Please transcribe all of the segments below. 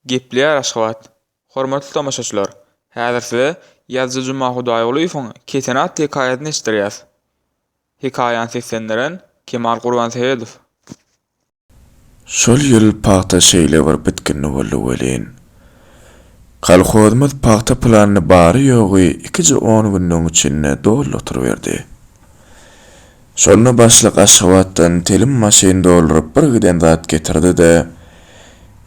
Gepleýär Aşgabat. Hormatly tomaşaçylar, häzir size ýazyjy Juma Hudaýgulyýewiň Kesen atly hekaýasyny eşitdirýäs. Hekaýany seslendiren, Kemal Gurbanseýedow. Şol ýyl pagta şeýle bir bitginli boldy welin, kolhozymyz pagta planyny bary-ýogy ikije on günlügiň içinde doly oturyberdi. Şonda başlyk Aşgabatdan telim maşyn dolduryp bir giden zat getirdi-de,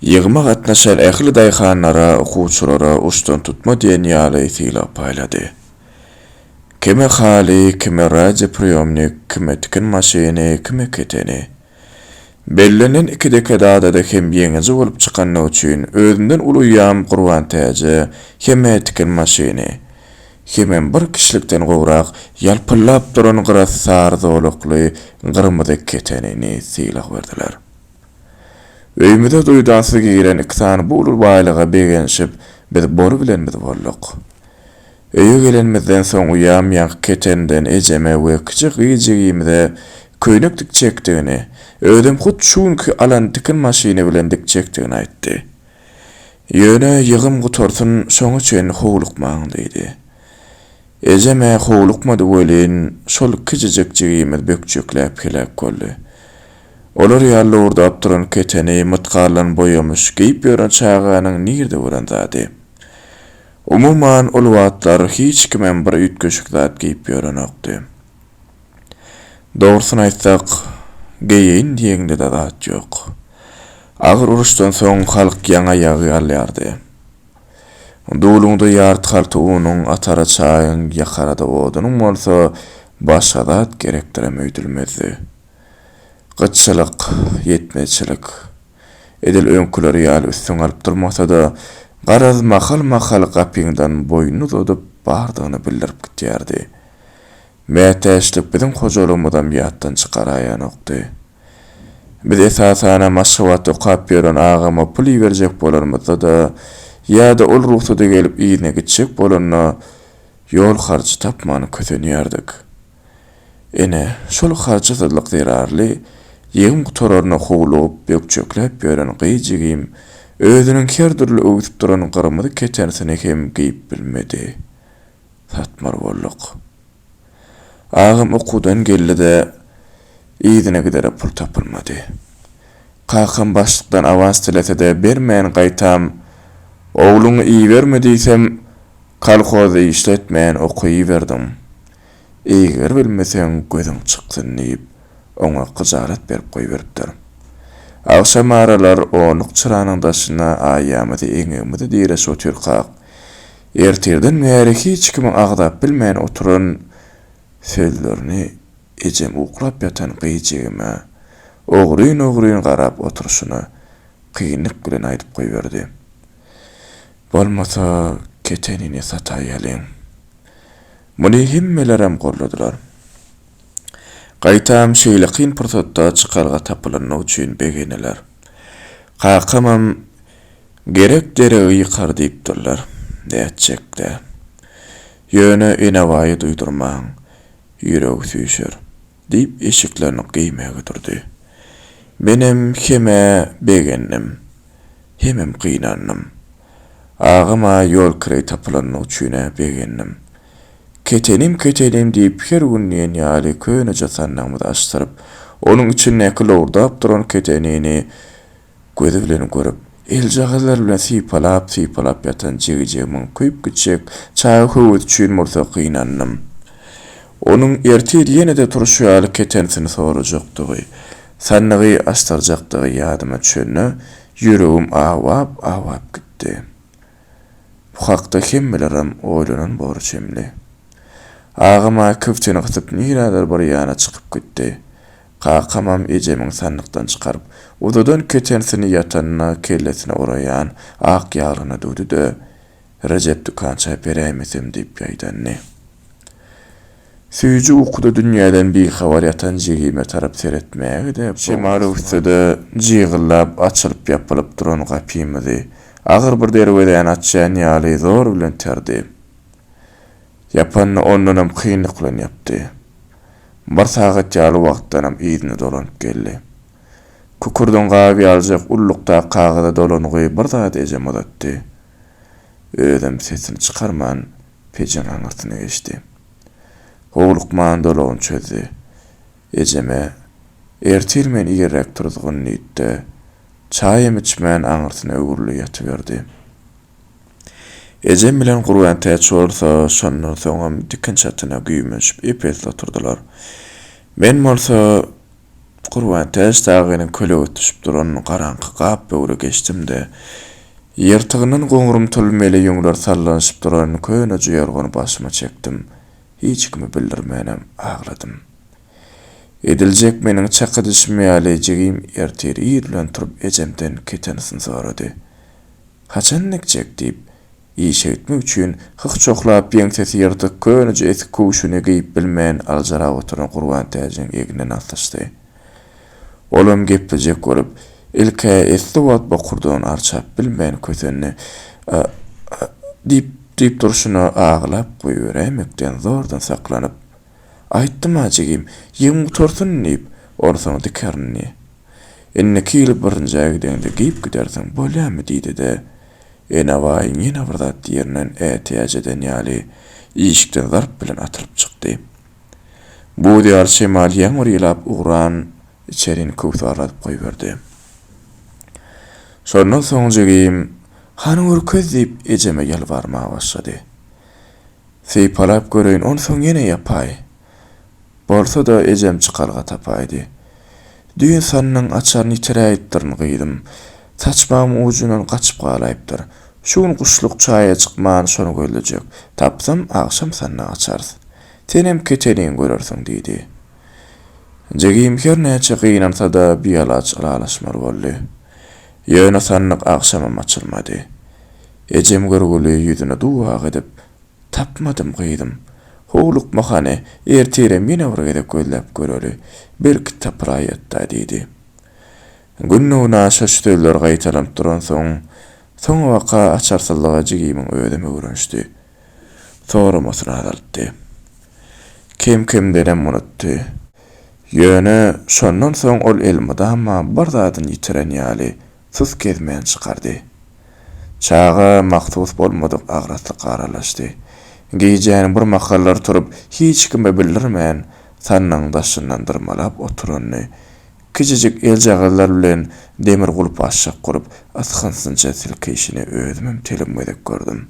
ýygyma gatnaşan ähli daýhanlara, okuwçylara uçdan tutma diýen ýaly sylag paýlady. Kime haly, kime radiopriýomnik, kime tikin maşyny, kime keteni. Bellenen iki dekadada-da hem ýeňiji bolup çykandygy üçin özümden uluýam Gurbantäje heme tikin maşyny, hemem bir kişilikden gowrak ýalpyldap duran gyra sary zolakly gyrmyzy ketenini sylag berdiler. Öýümize duýdansyz giren iki sany bu uly baýlyga begenişip biz boly bilen biz bolduk. Öýe gelenimizden soň uýam ýaňky ketenden ejeme we kiçi gyz jigimize köýnek dik çekdigini, özem hut şu günki alan tikin maşyny bilen dik çekdigini aýtdy. Ýöne ýygym gutarsyn, şoňa çenli howlukmaň diýdi. Ejem-ä howlukmady welin, şol kiçijek jigimiz bökjekläp heläk boldy. Olar ýaly lowurdap duran keteni mytgallan boýamyş geýip ýören çaganyň nirde bolan zady? Umuman, ol wagtlar hiç kimem bir üýtgeşik zat geýip ýörenokdy. Dogrusyny aýtsak, geýeýin diýeňde-de zat ýok. Agyr uruşdan soň halk ýaňa ýagy alýardy. Duluňda ýarty halta unuň, atara çaýyň, ýakara-da odunyň bolsa, başga zat gerekdirem öýdülmezdi. Gytçylyk, ýetmezçilik. Edil öňküleri ýaly üstüňi alyp durmasa-da, garaz, mahal-mahal gapyňdan boýnuny uzadyp, bardygyny bildirip gidýärdi. Mätäçlik biziň hojalygymyzam ýatdan çykaraýanokdy. Biz, esasan-a, Maşgabatda okap ýören agama pul iberjek bolanymyzda-da ýa-da ol rugsady gelip yzyna gitjek bolanda, ýol harjy tapman kösenýärdik. Ine, şol harçsyzlyk zerarly ýegim gutararyna howlugyp, bökjekläp ýören gyz jigim özüniň her dürli öwsüp duran gyrmyzy ketenisini hem geýip bilmedi. Satmar bolduk. Agam okuwdan geldi-de, yzyna gidere pul tapylmady. Kakam başlykdan awans dilese-de bermän gaýtam, Ogluňy iberme diýsem, kolhozda işletmän okuwiberdiň. Eýger bilmeseň gözüň çyksyn diýip, oňa gyjalat berip goýberipdir. Agşam aralar onluk çyranyň daşyna aýamyzy eňegimize diräşip otyrkak, ertirden bäri hiç kimiň agzap bilmän oturan sözlerini ejem uklap ýatan gyz jigime ogryn-ogryn garap oturyşyna kynlyk bilen aýdyp goýberdi. Bolmasa, ketenini sataýalyň. Muny hemmelerem golladylar. Gaýtam şeýle kyn pursatda çykalga tapylanyny üçin begeneler. Kakamam Gerek deregi ýykar diýipdirler. Nätjek-dä. Ýöne Enebaýy duýdurmaň, ýüregi süýşer. Diýip, eşiklerini geýmäge durdy. Menem hem-ä begendim. Hemem gynandym. Agama ýol kireý tapylanyny üçin-ä begendim. Ketenim, ketenim diýip, her gün diýen ýaly köneje sandygymyzy açdyryp, onuň içindäki lowurdap duran ketenini Gözi bilen görüp, eljagazlary bilen sypalap-sypalap ýatan jigijegi müňküp gitjek çaga höwes üçin bolsa gynandym. Onuň ertir ýene-de turşy ýaly ketensini sorajakdygy, sandygy açdyrjakdygy ýadyma düşende, ýüregim awap-awap gitdi. Bu hakda hemmelerem oýlanan bor çemli. Agam-a kibtini gysyp nirädir bir ýana çykyp gitdi. Kakamam ejemiň sandykdan çykaryp uzadan ketensini ýatanyna kellesine oraýan ak ýaglygyna düwdi-de, Rejep dükança beräýmesem diýip ýaýdandy. Süýji ukuda dünýäden bihabar ýatan jigime tarap seretmäge-de, şemaly üstede jygyllap açylyp-ýapylyp duran gapymyzy agyr bir derwezäni açýan ýaly zor bilen iterdi. Ýapanda ondanam kynlyklan ýapdy. Bir sagat ýaly wagtdanam yzyna dolanyp geldi. Kükürdiň gaby ýalyjak ullukdaky kagyza dolanygy bir zady ejeme uzatdy. Özem sesini çykarman pejiň aňyrsyna geçdi. Howlukman dolagyny çözdi. Ejeme, Ertir men irräk turuzgyn diýdi-de, çaýam içmän aňyrsyna öwrüldi ýatyberdi. Ejem bilen Gurbantäç bolsa şondan soňam dikin çatyna güýmenşip ep-esli oturdylar. Men bolsa Gurbantäç dagynyň kölegesi düşüp duran garaňky gap böwre geçdim-de, ýyrtygyndan goňrumtyl mele ýüňler sallanyşyp duran köneje ýorgany başyma çekdim, hiç kime bildirmänem agladym. Ediljek meniň çaky düşüm ýaly jigim ertir ir bilen turup ejemden ketenisini sorady. Haçan dikjek? diýip, işeýtmek üçin hyh çohlap, ýeňsesi ýyrtyk, köneje esik köwşüni geýip bilmän aljyrap oturan Gurbantäjiň egnine nasyşdy. Olam geplejek bolup, ilk-ä esli wagt bokurdagyny arçap bilmän kösendi. A-a-a! diýip, diýip durşuna agylap goýberäýmekden zordan saklanyp. Aýtdym-a jigim, ýegiň gutarsyn diýip, onsoň dikerin diýip. Indiki ýyl birinjä gideňde geýip gidersiň, bolýamy diýdi-de, Enabaýyň ýene bir zat diýerinden ätiýaç eden ýaly, işikden zarp bilen atylyp çykdy. Buz ýaly şemal ýaňyr ýylap ugran içerini köwsarladyp goýberdi. Şondan soň jigim, Hany görkez diýip, ejeme ýalbarmaga başlady. Sypalap göreýin, onsoň ýene ýapaý. Bolsa-da, ejem çykalga tapaýdy. Düýn sannyň açaryny ýitiräýipdirin, gyzym. Saçmamyň ujundan gaçyp galaýypdyr. Şu gün guşluk çaýa çykman, şony gözlejek. Tapsam, agşam sanny açarys. Senem keteniň görersiň, diýdi. Jigim her näçe gynansa-da, bialaç ylalaşmaly boldy. Ýöne sannyk agşamam açylmady. Ejem görgüli ýüzüne dubak edip, Tapmadym, gyzym. Howlukma hany, ertirem ýene bir gezek gözläp göreli. Belki tapylaýýat-da, diýdi. Gündogyna şo sözler gaýtalanyp duransoň, soňabaka açarsyzlyga jigimiň özem öwrenişdi. Soramasyny azaltdy. Kem-kemdenem unutdy. Ýöne şondan soň ol elmydama bir zadyny ýitiren ýaly, Tys gezmän çykardy. Çaga mahsus bolmadyk agraslyk aralaşdy. Gijäniň bir mahallar turup, hiç kime bildirmän, sannygyň daşyndan dyrmalap oturanyny, kiçijik eljagazlar bilen demir gulpa şyk urup, ysgynsyňça silkeýşini özümem telim gezek gördüm.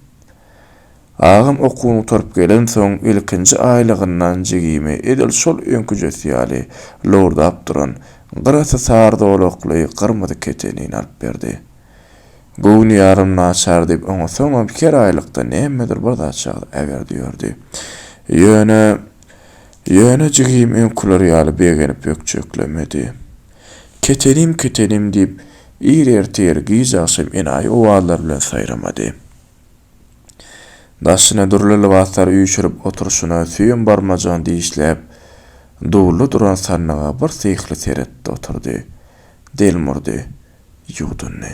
Agam okuwyny gutaryp gelensoň ilkinji aýlygyndan jigimi edil şol öňküjesi ýaly lowurdap duran, gyrasy sary zolakly gyrmyzy ketenini alyp berdi. Göwni ýarym naçar diýip oňa soňam her aýlykda nämedir bir zat çagyryp äberdi ýördi. Ýöne Ýöne jigim öňküler ýaly begenip ökjeklemedi. Ketenim ketenim diýip ir ertir giç agşam enaýy owazlar bilen saýramady. Daşyna dürli lybaslary üýşürip oturyşyna süýem barmajygyny dişläp, dulda duran sandyga bir syhly seretdi oturdy. Delmurdy. Ýuwdundy.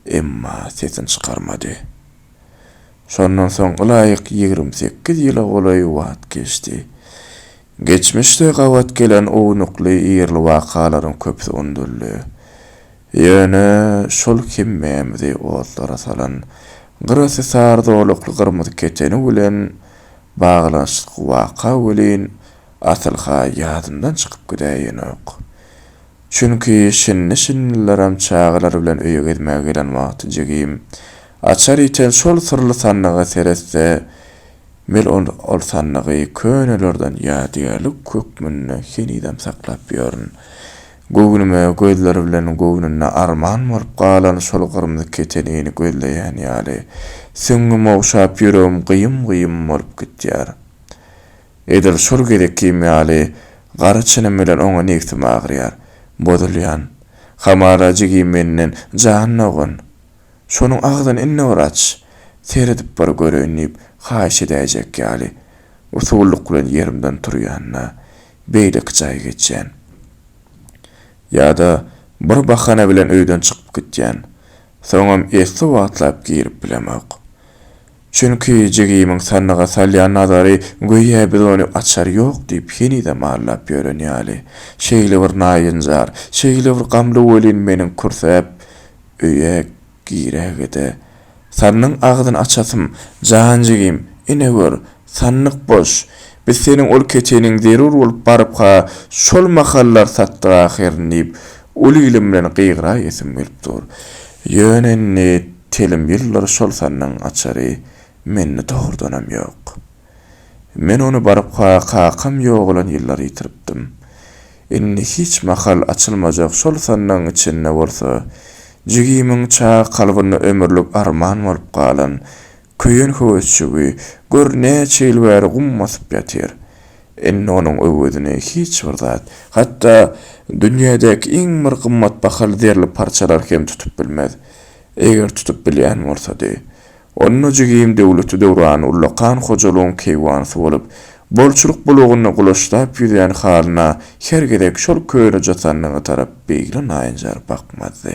Emma sesini çykarmady. Şondan soň ylaýyk ýigrimi sekiz ýyla golaý wagt geçdi. Geçmişde gabat gelen ownukly ýerli wakalaryň köpüsi unudyldy. Ýöne şol hemmämizi otlara salan gyrasy sary zolakly gyrmyzy keteni bilen baglanyşykly waka welin, asyl-ha ýadymdan çykyp gidäýenok. Çünki şindi-şindilerem çagalar bilen öýe gezmäge gelen wagty jigim açar iten şol syrly sandyga seretse, mel ol sandygy könelerden ýadygärlik hökmünde henizem saklap ýörün. Göwnüme gözleri bilen göwnünde arman bolup galan şol gyrmyzy ketenini gözleýän ýaly, süňňüm ogşap ýüregim gyýym-gyýym bolup gitýär. Edil şol gezekkim ýaly gara çynym bilen oňa nebsim agyrýar. Bozulýan. Hamala jigim menden, Jan dogan! Şonuň agzyny indi bir aç! Seredip bir göreýin diýip, haýyş edäýjek ýaly, usulluk bilen ýerimden turýan-da, beýleki jaýa geçýän. Ýa-da bir bahana bilen öýden çykyp gitýän. Soňam esli wagtlap girip bilemok. Çünki jigimiň sandyga salýan nazary göýä biz ony açar ýok diýip henizem mallap ýören ýaly. Şeýlebir naýynjar, şeýlebir gamly welin meniň kürsäp öýe Girägede, Sannyň agzyny açasym, jan jigim, ine gör, sandyk boş. Biz seniň ol keçeniň zerur bolup baryp-ha şol mahallar satdyk ahyryn diýip, uly ilim bilen gygyraýasym gelip dur. Ýöne indi telim ýyldyr şol sandygyň açary mende tohurdanam ýok. Men ony barka kakam ýogalan ýyllary ýitiripdim. Indi hiç mahal açylmajak şol sandygyň içinde bolsa jigimiň çag kalbynda ömürlik arman bolup galan köýen höwesjigi gör näçe ýyl bäri gum basyp ýatyr. Indi onuň öwezini hiç bir zat, hatda dünýädäki iň bir gymmat bahaly zerli parçalar hem tutup bilmez. Eger tutup bilýän bolsady, Onda jigim Döwleti döwran ullakan hojalygyň keýwanysy bolup, bolçulyk bulagynda gulaşlap ýüzýän halyna her gezek şol köne jatanlyga tarap beýle naýynjar bakmazdy.